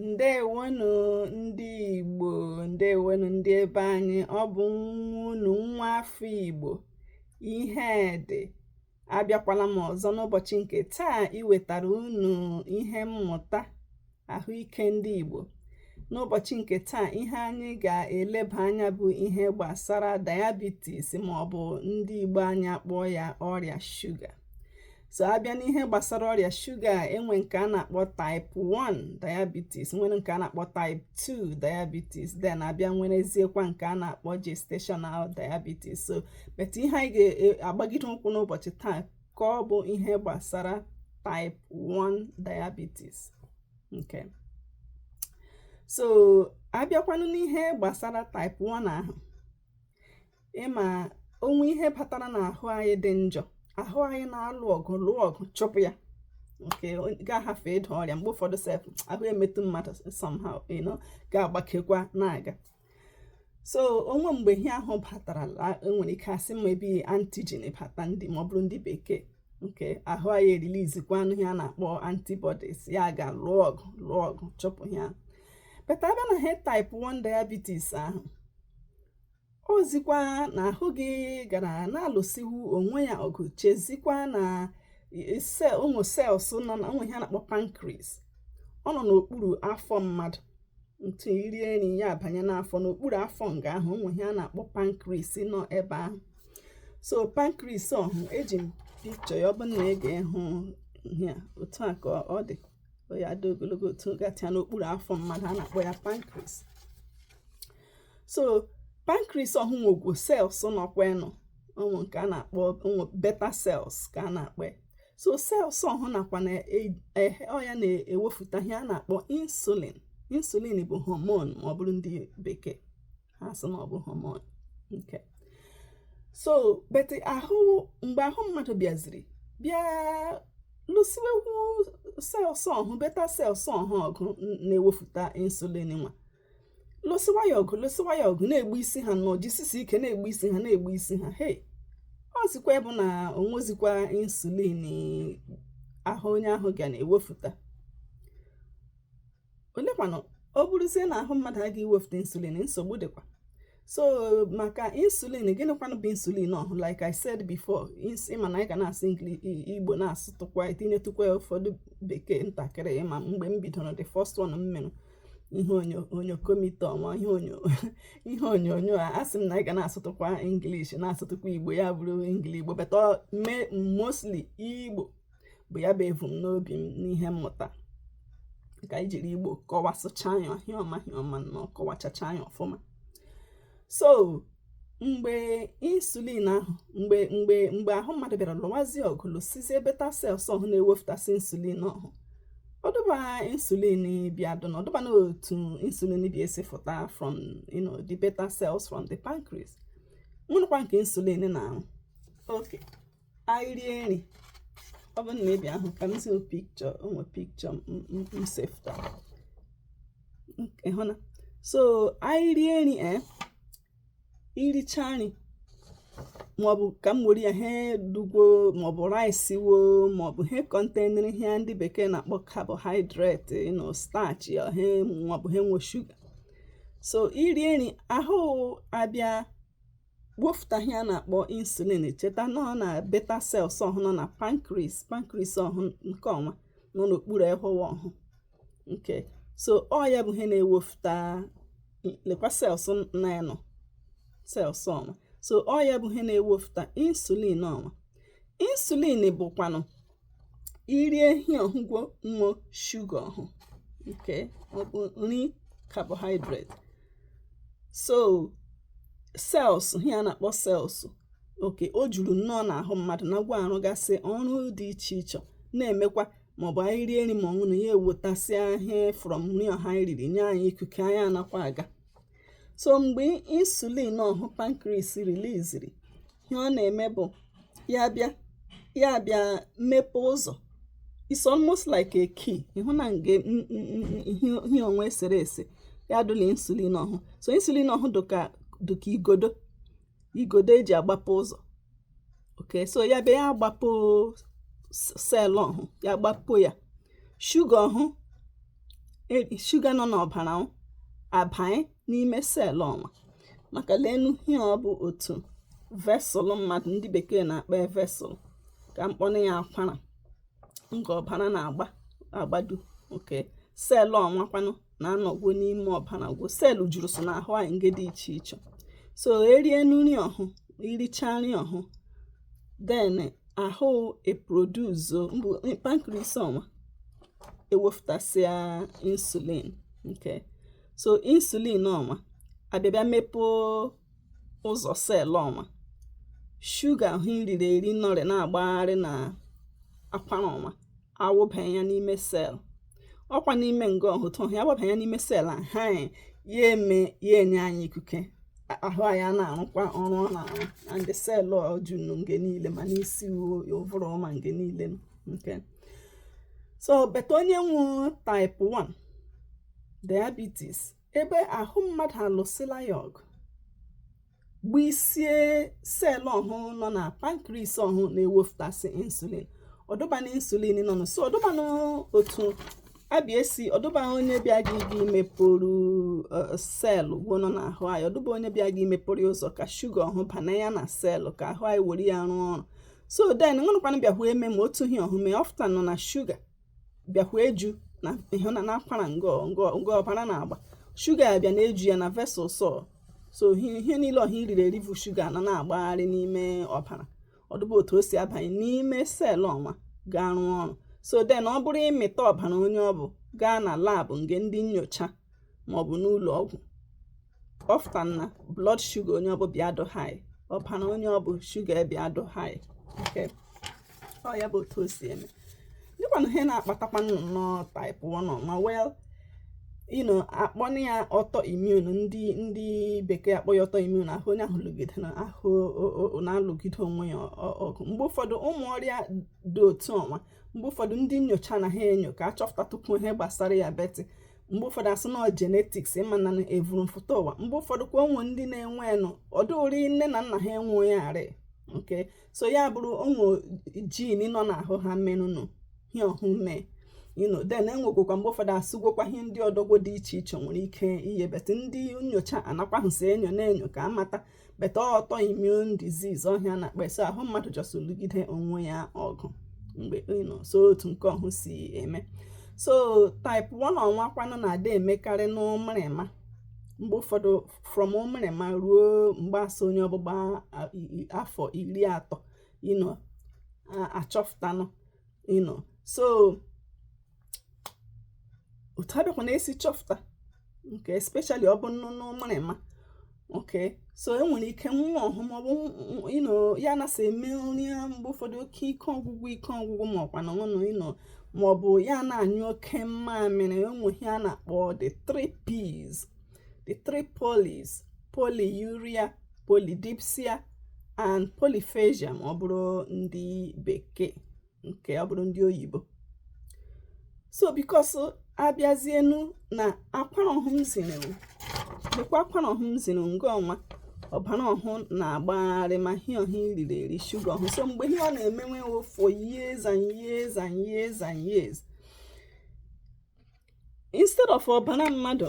ndewonu ndị Igbo ndewonu ndị ebe anyị ọ bụ nwa unu nwa afọ Igbo Ihedi abịakwala m ọzọ n'ụbọchị nke taa iwetara unu ihe mmụta ahụike ndị Igbo n'ụbọchị nke taa ihe anyị ga-eleba anya bụ ihe gbasara diabetes ma ọ bụ ndị Igbo anyị akpọọ ya ọrịa shuga so abịa n'ihe gbasara ọrịa shuga enwe nke a na-akpọ type 1 diabetes nwere nke a na-akpọ type 2 diabetes then abịa nwereziekwa nke a na-akpọ gestational diabetes so but ihe anyị ga-agbagide ụkwụ n'ụbọchị taa ka ọ bụ ihe gbasara type 1 diabetes ok so abịakwanụ n'ihe gbasara type 1 ahụ ịma o nwee ihe batara n'ahụ anyị dị njọ ahụ anyị na-alụ ọgụ lụọ ọgụ chụpụ ya nke ga-ahafụ ịda ọrịa mgbe ụfọdụ sef ahụ emetụ mmadụ somehow you know ga-agbakekwa na-aga so o nwe mgbe ihe ahụ batara enwere ike asị maybe antigen bata ndị ma ọ bụrụ ndị bekee ok ahụ anyị erilizikwanụ ihe a na-akpọ antibodies ya gaa lụọ ọgụ lụọ ọgụ chụpụ ya but abịa na he type 1 diabetes ahụ ọ zikwa na ahụ gị gara na-alụsiwu onwe ya ọgụ chezikwa na ụmụ cells nọ na o nwe ihe a na-akpọ pancreas ọ nọ n'okpuru afọ mmadụ ntụ irie nri ya abanye n'afọ n'okpuru afọ nga ahụ o nwe ihe a na-akpọ pancreas nọ ebe ahụ so pancreas ọhụ eji m picture ya ọ bụ na ị ga-ehụ ihe otu a ka ọ dị ya dị ogologo otu gatịa n'okpuru afọ mmadụ a na-akpọ ya pancreas so pancreas ọhụ nwe ụmụ cells nọkwa nọ ụmụ nke a na-akpọ ụmụ beta cells ka a na-akpọ so cells ọhụ nakwa na e, e, ọ ya na-ewepụta ihe a na-akpọ insulin insulin bụ hormone ma ọ bụrụ ndị bekee ha sị na ọ bụ hormone ok so but ahụ mgbe ahụ mmadụ bịaziri bịa lụsiwekwu cells ọhụ beta cells ọhụ ọgụ na-ewepụta insulin nwa lụsịwa ya ọgụ lụsịwa ya ọgụ na-egbusi ha nọ jisisi ike na-egbusi ha na-egbusi ha hei ọ zikwa bụ na o nwezikwa insulin ahụ onye ahụ ga na-ewefụta olekwanụ ọ bụrụzie na ahụ mmadụ agaghị ewefụta insulin nsogbu dịkwa so maka insulin gịnịkwanụ bụ insulin ọhụ like i said before ịma na anyị ga na-asụ igbo na-asụtụkwa itinyetụkwa ụfọdụ bekee ntakịrị ịma mgbe m bidoro the first one m mere ihe onyonyo komite ọma ihe onyonyo a asị m na anyị ga na-asụtụkwa english na-asụtụkwa igbo ya bụrụ engli igbo but mostly igbo bụ ya bụ evu m n'obi m n'ihe mmụta ka anyị jiri igbo kọwasịcha ya ọhụma ọhụma na ọkọwachacha ya ọfụma so mgbe insulin ahụ mgbe mgbe mgbe ahụ mmadụ bịara lụwazie ọgụ lụsizie beta cells ọhụ na-ewepụtasị insulin ọhụ ọdụba insulin bịa dụ na ọdụba na otu insulin bịa esi fụta from you know, the beta cells from the pancreas na ọrụkwa nke insulin na-arụ okay anyị rie nri ọ bụ na ebe ahụ ka m si picture ọnwa picture m sefụta ị hụna so anyị rie nri e eh, i richa nri maọbụ ka m were ya he dụgwo maọbụ rice wo maọbụ he containrị ihe ndị bekee na-akpọ carbohydrate nọ starch ya he maọbụ he nwe shuga so i rie nri ahụ abịa wepụta ihe a na-akpọ insulin cheta na ọ na beta cells ọhụ nọ na pancreas pancreas ọhụ nke ọnwa nọ n'okpuru ehụwa ọhụ okay so ọ ya bụ ihe na-ewepụta lekwa cells na ya nọ cells ọnwa so ọ ya bụ ihe na-ewepụta insulin ọnwa insulin bụkwanụ i rie ihe ọhụ gwo nwe shuga ọhụ okay ọ bụ nri carbohydrate so cells ihe a na-akpọ cells okay o juru nnọọ n'ahụ mmadụ na gwa arụgasị ọrụ dị iche iche na-emekwa maọbụ anyị rie nri ma ọṅụ na ya ewetasịa ihe from nri ọhụ anyị riri nye anyị ikike anyị anakwa aga so mgbe insulin ọhụ pancreas releaseri ihe ọ na-eme bụ ya bịa ya bịa mepee ụzọ it's almost like a key ị hụna nge ihe ọnwa e sere ese ya dụla insulin ọhụ so insulin ọhụ dụka dụka igodo igodo e ji agbape ụzọ okay so ya bịa ya agbape cell ọhụ ya gbapo ya shuga ọhụ e, shuga nọ n'ọbara abanye n'ime cell ọnwa maka lenụ ihe ọ bụ otu vessel mmadụ ndị bekee na-akpọ vessel ka m kpọnụ ya akwara nke ọbara na-agba agbadu okay cell ọnwa kwanụ na-anọgwo n'ime ọbara gwo cell jurusị n'ahụ anyị nge dị iche iche so e rie nri ọhụ i richa nri ọhụ then ahụ eproduce maọbụ pancreas ọnwa ewepụtasịa insulin okay so insulin ọnwa abịa bịa mepee ụzọ cell ọnwa shuga ahụ i riri eri nọrị na-agbagharị na akwara ọnwa awụbanye ya n'ime sel ọkwa n'ime nga ọhụ otu ọhụ ya wụbanye ya n'ime sel a ha ya eme ya enye anyị ikuke ahụ anyị ana-arụkwa ọrụ ọ na-arụ and sel o junu nge niile ma n'isi ụvụrụ ma nge niile okay so but onye nwe type 1 diabetes ebe ahụ mmadụ alụsịla ya ọgụ gbusie sel ọhụ nọ na pancreas ọhụ na-ewepụtasị insulin ọdụbana insulin nọnụ so ọdụbana otu abịa esi ọdụba onye bịa gị gị mepụrụ e, sel gwo nọ n'ahụ anyị ọdụba onye bịa gị mepụrụ ya ụzọ ka shuga ọhụ bana ya na selụ ka ahụ anyị were ya rụọ ọrụ so then ṅụnụkwanụ bịahụ eme ma otu ihe ọhụ mee ọ fụtanụ na shuga bịakwa eju na ịhụ na n'akwara ngọ ngọ nge ọbara na-agba shuga ya bịa na-eju ya na vessels so ihe ihe niile ọha i riri eri bụ shuga na na-agbagharị n'ime ọbara ọdụba otu o si abanye n'ime selụ ọnwa gaa rụọ ọrụ so then ọ bụrụ ị mịta ọbara onye ọ bụ gaa na lab nge ndị nyocha maọbụ n'ụlọ ọgwụ ọ fụta na blood sugar onye ọbụ bịa dụ high ọbara onye ọbụ sugar bịa dụ high okay ọ ya bụ otu o si eme dụkwanụ ihe na-akpatakwa nnọọ type 1 ọnwa you know akpọna ya autoimmune ndị ndị bekee akpọ ya autoimmune ahụ onye ahụ lụgide na ahụ na-alụgide onwe ya ọgụ mgbe ụfọdụ ụmụ ọrịa dị otu ọnwa mgbe ụfọdụ ndị nyocha na ha enyo ka achọpụtatụkwu ihe gbasara ya but mgbe ụfọdụ a sị na ọ genetics ịma na evuru mfụta ụwa mgbe ụfọdụ kwa o nwe ndị na-enwe nụ ọdụ ụri nne na nna ha enwe ya arị okay so ya bụrụ o nwe gene nọ n'ahụ ha menụnụ ihe ọhụ mee you know then enwegwokwa mgbe ụfọdụ asụgwokwa ihe ndị ọdọgwo dị iche iche nwere ike ihe but ndị nyocha anakwahụsi enyo na-enyo ka amata but autoimmune disease ọha a na-akpa so ahụ mmadụ just lụgide onwe ya ọgụ mgbe you know so otu nke ọhụ si eme so type 1 ọnwa kwanụ na-adị emekarị n'ụmịrịma mgbe ụfọdụ from ụmịrịma ruo mgbe a sị onye ọbụ gbaa afọ iri atọ you know achọfụtanụ you know so otu abịakwa na-esi chọpụta okay especially ọ bụ nụ n'ụmịrịma okay so e nwere ike nwa ọhụ maọbụ you know ya ana-asị eme nrịa mgbe ụfọdụ oke ike ọgwụgwụ ike ọgwụgwụ ma ọkwa na ọnụ you know maọbụ ya na-anyụ oke mmamịrị o nwe ihe a na-akpọ the three P's the three polys polyuria polydipsia and polyphagia ma ọ bụrụ ndị bekee nke ọ bụrụ ndị oyibo so because abịazienu na akwara ọhụ m ziri unu lekwa akwara ọhụ m ziri nga ọnwa ọbara ọhụ na-agbagharị ma hie ọhụ e riri eri shuga ọhụ so mgbe ihe ọ na-emewe for years and years and years and years instead of ọbara mmadụ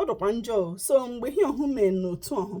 ọ dụkwa njọ so mgbe ihe ọhụ mee n'otu ọhụ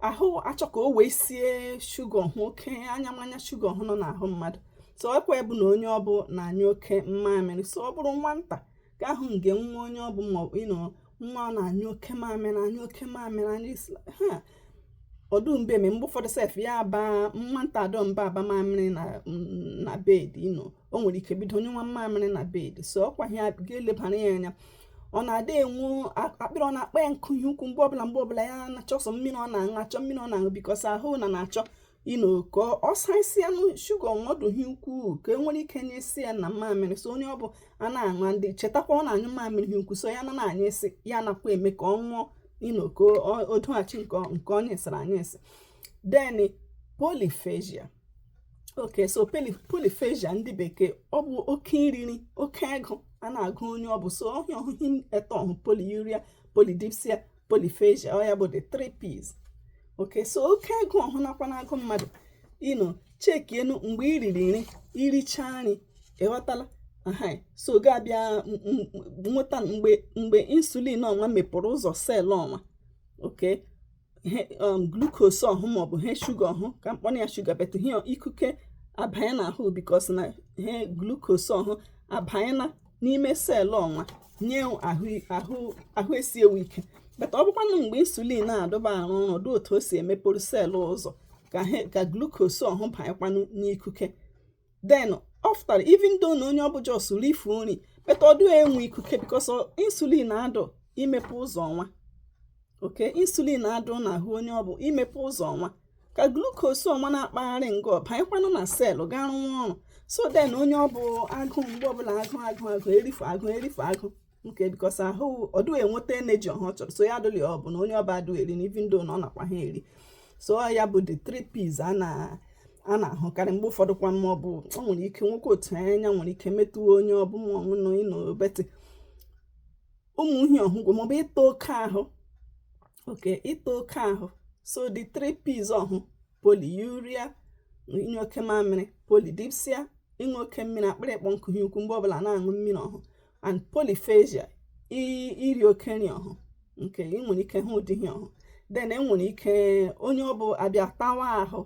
ahụ achọ ka o weisie shuga ọhụ oke anya mmanya shuga ọhụ nọ n'ahụ mmadụ so ọkwa bụ na onye ọbụ na-anyụ oke mmamịrị so ọ bụrụ nwata ka ahụ nge nwa onye ọbụ maọbụ you know nwa ọ na-anyụ oke mamịrị anyụ oke mamịrị anyụ he ọdụ mbụ eme mgbe ụfọdụ sef ya abụ nwata adụ mbụ aba mamịrị na bed you know o nwere ike bido nyụwa mmamịrị na bed so ọkwa ya ga-elebara ya anya another one akpịrị ọ na-akpọ ya nkụ ihe ukwu mgbe ọbụla mgbe ọbụla ya na-achọ sọ mmiri ọ na-aṅụ achọ mmiri ọ na-aṅụ because ahụ na na-achọ you know ka ọ saisi ya na shuga ọhụ dụ ihe ukwuu ka e nwere ike nyụisi ya na mmamịrị so onye ọ bụ a na-aṅụ ndị chetakwa ọ na-anyụ mmamịrị ihe ukwu so ya na na-anyụisi ya nakwa eme ka ọ ṅụọ you know ka o doghachi nke ọ nyụisiri anyụisi then polyphagia okay so polyphagia ndị bekee ọ bụ oke iriri oke agụ a na-agụ onye ọ bụ so ọ ha ọhụ ihe etọ ọhụ polyuria polydipsia polyphagia ọ ya bụ the three P's okay so oke agụ ọhụ nakwa na-agụ mmadụ you know chekienu mgbe i riri nri iricha nri ị ghọtala so ga-abịa nweta mgbe mgbe insulin ọnwa mepụrụ ụzọ cell ọnwa okay um, glucose ọhụ maọbụ he shuga ọhụ ka m kpọrọ ya shuga but ọ he ikuke abanye na ahụ because na he glucose ọhụ abanye na n'ime cell ọnwa nye ahụ esiwe ike but ọ bụkwanụ mgbe insulin na-adụ abịa arụ ọrụ ọdụ otu o si emepụrụ cell ụzọ ka glucose ọhụ banyekwanụ n'ikuke then often even though na onye ọ bụ just rifu nri but ọ dụ enwe ikuke because insulin adụ imepe ụzọ ọnwa okay insulin adụ n'ahụ onye ọ bụ imepe ụzọ ọnwa ka glucose ọnwa na-akpagharị nga ọhụ banyekwanụ na cell gaa rụwa ọrụ so then onye ọ bụ agụụ mgbe ọbụla agụ agụ agụ erifu agụ erifu agụ nke because ahụ ọdụ enweta energy ọhụ ọ chọrọ so ya adụli ọ bụ na onye ọ bụ adụ eri na even though na ọ nakwa ha eri so ya bụ the three P's a na a na-ahụkarị mgbe ụfọdụ kwa ma ọ bụ ọ nwere ike nwekwa otu anya nwere ike metụọ onye ọ bụ ma ọ bụ na you know obeti ụmụ ihe ọhụkwa maọbụ ịta oke ahụ okay ịta oke ahụ so the three P's ọhụ polyuria ịnyụ oke mamịrị polydipsia ịṅụ oke mmiri akpịrị ịkpọ nkụ ihe ukwu mgbe ọbụla na-aṅụ mmiri ọhụ and polyphagia iri oke nri ọhụ nke ị nwere ike hụ ụdị ihe ọhụ then enwere ike onye ọ bụ abịa tawa ahụ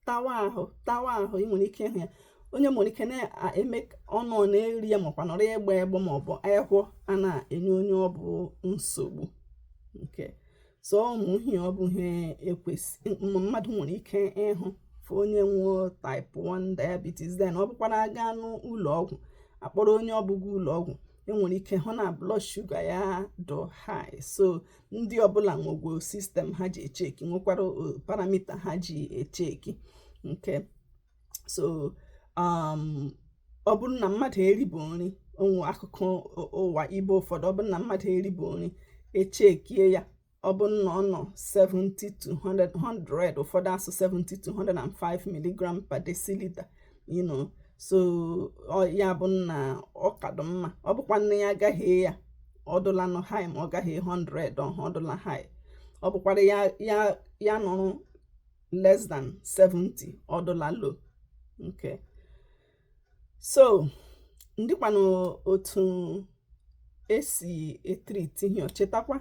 tawa ahụ tawa ahụ ị nwere ike ịhụ ya onye nwere ike na-eme ọnụ ọ na-eri ya makwa nọrọ agbọ agbọ ma ọ bụ ahọ a na-enye onye ọ bụ nsogbu okay so ụmụ ihe ọ bụ ihe ekwesị mmadụ nwere ike ịhụ fụ onye nwe type 1 diabetes then ọ bụkwara aga n'ụlọ ọgwụ akpọrọ onye ọbụ ga ụlọ ọgwụ enwere ike hụ na blood shuga ya dụ high so ndị ọbụla nwegwo sistem ha ji echeki nwekwara uh, paramita ha ji echeki okay so um, ọ bụrụ na mmadụ eribu nri o nwe akụkụ ụwa ibe ụfọdụ ọ bụrụ na mmadụ eribu nri echekie ya ọ bụrụ na ọ nọ 70 to 100 ụfọdụ asụ 70 to 105 milligram per deciliter you know so ya bụ na ọ kadụ mma ọ bụkwara na ya agahee ya ọ dụlanụ high ma ọ gahee 100 ọhụ ọ dụla high ọ bụkwara ya ya ya nọrọ less than 70 ọ dụla low okay so ndịkwanụ otu esi etriti ihe chetakwa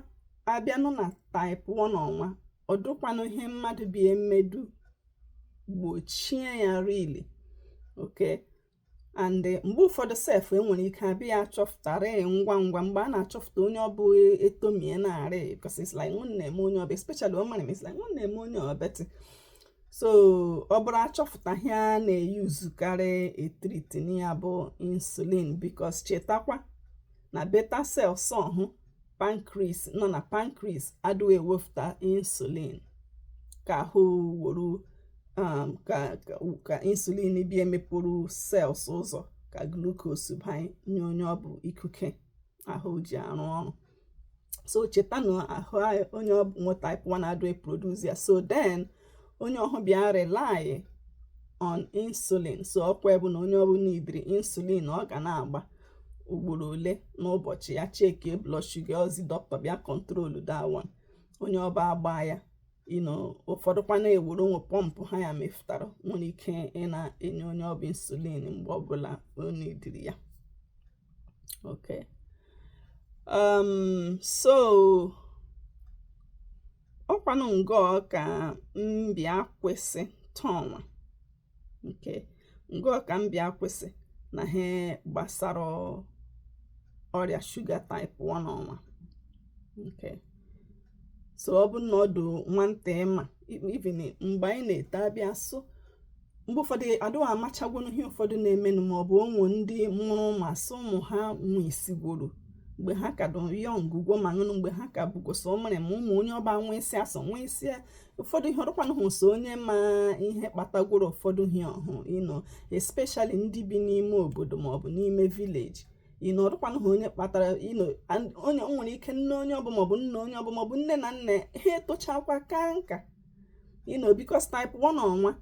abịanụ na type 1 ọnwa ọ dụkwanụ ihe mmadụ bi emedu gbochie ya really okay and eh, mgbe ụfọdụ sef enwere ike abịa achọpụtara ngwa ngwa mgbe a na-achọpụta onye ọbụ etomie narị because it's like ọ na-eme onye ọbụ especially amarị m it's like ọ na-eme onye obetị so ọ bụrụ achọpụta ihe a na-eyuzukarị etriti ya bụ insulin because chetakwa na beta cells ọhụ pancreas nọ na pancreas adịghị ewepụta insulin ka ahụ wuru um, ka insulin bi emepụrụ cells ụzọ ka glucose banye nye onye ọ bụ ikuke ahụ ji arụ ọrụ so cheta na ahụ onye ọ bụ nwe type 1 adịghị produce ya so then onye ọhụ bịa rely on insulin so ọkwa bụ na onye ọbụ niidiri insulin ọ ga na-agba ugboro ole n'ụbọchị ya cheki blood sugar ozi dọkịta bịa kọntrolu that one onye ọbụ agbaa ya you know ụfọdụkwa na-ewuru o nwe pọmpụ ha ya mefụtara nwere ike ịna-enye onye ọbụ insulin mgbe ọbụla o niidiri ya okay um so ọkwanụ ngọ ka m bi akwụsị taa ọnwa okay ngọ ka m bi akwụsị na ihe gbasara ọrịa shuga type 1 ọnwa okay so ọ bụ na ọ dụ nwantị ị ma even mgbe anyị na-ete abịa so mgbe ụfọdụ adịghị amachagwonu ihe ụfọdụ na-emenụ ma ọ bụ onwe ndị mụrụ ụmụ asị ụmụ ha nwụsịgworo mgbe ha ka dị young ugwo ma nụnụ mgbe ha ka bụgoso o mere ma ụmụ onye ọba nwa isi asọ nwa isi ụfọdụ ihe ọrụkwanụ hụ so onye ma ihe kpatagworo ụfọdụ ihe ọhụ you know especially ndị bi n'ime obodo ma ọ bụ n'ime village you know ọrụkwanụ hụ onye kpatara you know onye nwere ike nne onye ọbụ maọbụ nna onye ọbụ maọbụ nne na nne ha etochakwa kaa nka you know because type 1 ọnwa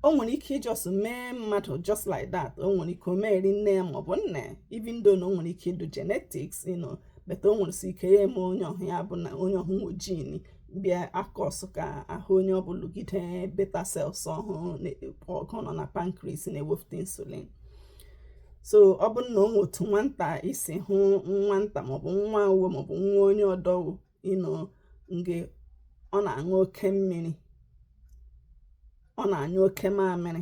o nwere ike ị just mee mmadụ just like that o nwere ike o meri nne ya maọbụ nna ya even though na o nwere ike ịdụ genetics you know but o nwere si ike ya eme onye ọhụ ya bụ na onye ọhụ nwe gene bịa cause ka ahụ onye ọbụ lụgide beta cells ọhụ ọgụ nọ na pancreas na-ewepụta insulin so ọ bụrụ na o nwe otu nwata i si hụ nwata maọbụ nwa uwe maọbụ nwa onye ọdọwo you know nge ọ na-aṅụ oke mmiri ọ na-anyụ oke mamịrị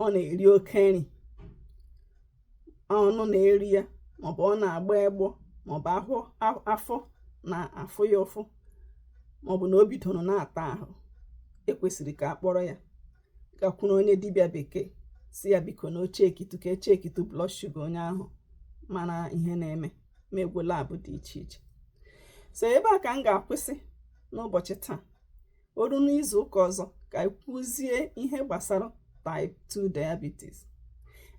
ọ na-eri oke nri ọnụ na-eri ya maọbụ ọ na-agba egbọ maọbụ afọ na-afụ ya ụfụ maọbụ na o bidoro na-ata ahụ ekwesịrị ka a kpọrọ ya gakwuru onye dibịa bekee sị ya biko na o checkitu ka e checkitu blood sugar onye ahụ mara ihe na-eme meegwo lab dị iche iche so ebe a ka m ga-akwụsị n'ụbọchị taa o ruo n'izu ụka ọzọ ka anyị kwuzie ihe gbasara type 2 diabetes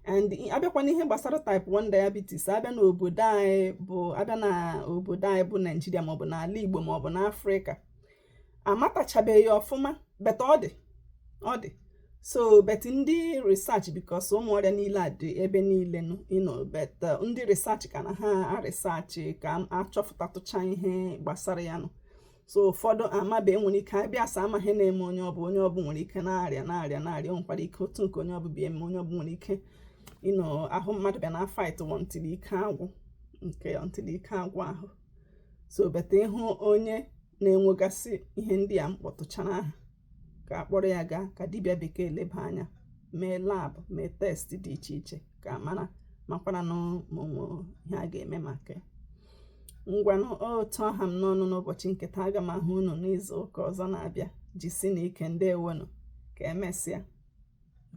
and abịakwa n'ihe gbasara type 1 diabetes abịa n'obodo anyị bụ abịa n'obodo anyị bụ naijiria maọbụ n'ala igbo maọbụ n'afrịka amatachabeghị ọfụma but ọ dị ọ dị so but ndị research because ụmụ ọrịa niile a dị ebe niile nụ you know but uh, ndị research ka na ha aresearchị ka achọpụtatụcha ihe gbasara ya nụ so ụfọdụ maybe nwere ike abịa asị amaghị ihe na-eme onye ọbụ onye ọbụ nwere ike na-arịa na-arịa na-arịa nwekwara ike otu nke onye ọbụ bịa eme onye ọbụ nwere ike you know ahụ mmadụ bịa na-afight wọ until ike agwụ nke until ike agwụ ahụ so but ị hụ onye na-enwegasị ihe ndị a m kpọtụchara aha ka a kpọrọ ya gaa ka dibịa bekee leba anya mee lab mee test dị iche iche ka a mara makwara ma o nwe ihe a ga-eme maka ya ngwanụ otu ọ ha m n'ọnụ n'ụbọchị nke taa aga m ahụ unu n'izu ụka ọzọ na-abịa jisinụ ike ndewonụ ka emesịa